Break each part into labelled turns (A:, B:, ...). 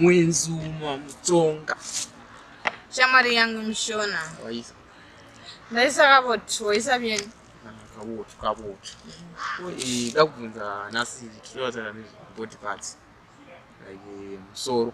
A: mwenzi umwe mutonga
B: shamwari yangu mishona waisa
A: ndaisa
B: kaboti waisa vyeni kaboti
A: kaboti eh, ndakubvunza nhasi tinoatana nezvebody parts like eh, musoro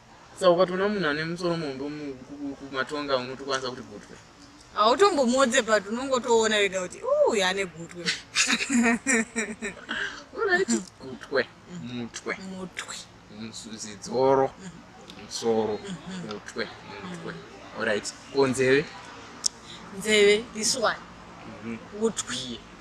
B: Saka ukatoona
A: munhu ane musoro muhombe kumatonga unotokwanisa kuti gutwe hautombomodze
B: but unongotoona wega kuti uyu ane gutwe
A: unaiti gutwe mutwe mutwe zidzoro musoro mutwe mutwe orit ko nzeve
B: nzeve this one mhm. utwi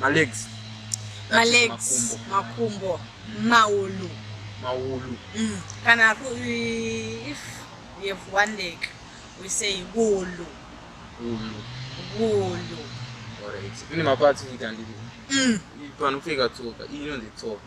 A: malegs malegs
B: makumbo maulu maulu
A: mm. kana
B: if we have one leg we say wulu wulu wulu alright ine
A: mapatsi ita ndiri mm. panopfeka tsoka iyi inonzi tsoka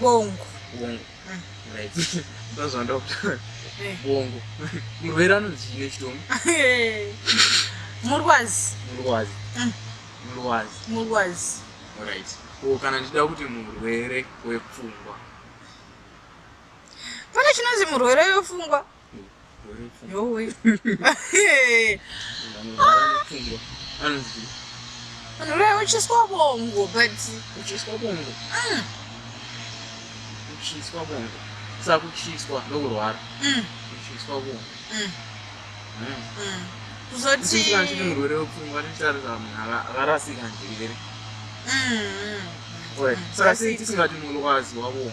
A: bongo
B: bongo
A: mm. right ndozvanda eh. bongo murwere anonzi chine chitomu
B: murwazi murwazi mm. murwazi
A: murwazi right ko kana ndichida kuti murwere wepfungwa
B: pane chinonzi murwere wepfungwa yowe
A: anoreva uchiswa
B: bongo but uchiswa bongo mm. uchiswa
A: bongo sakuchiswa ndokurwara mm. uchiswa bongo mm.
B: kuzotiti murwere
A: wepfungwa tichitarisa munhu akarasika njere saka sei tisingati murwazi wabongo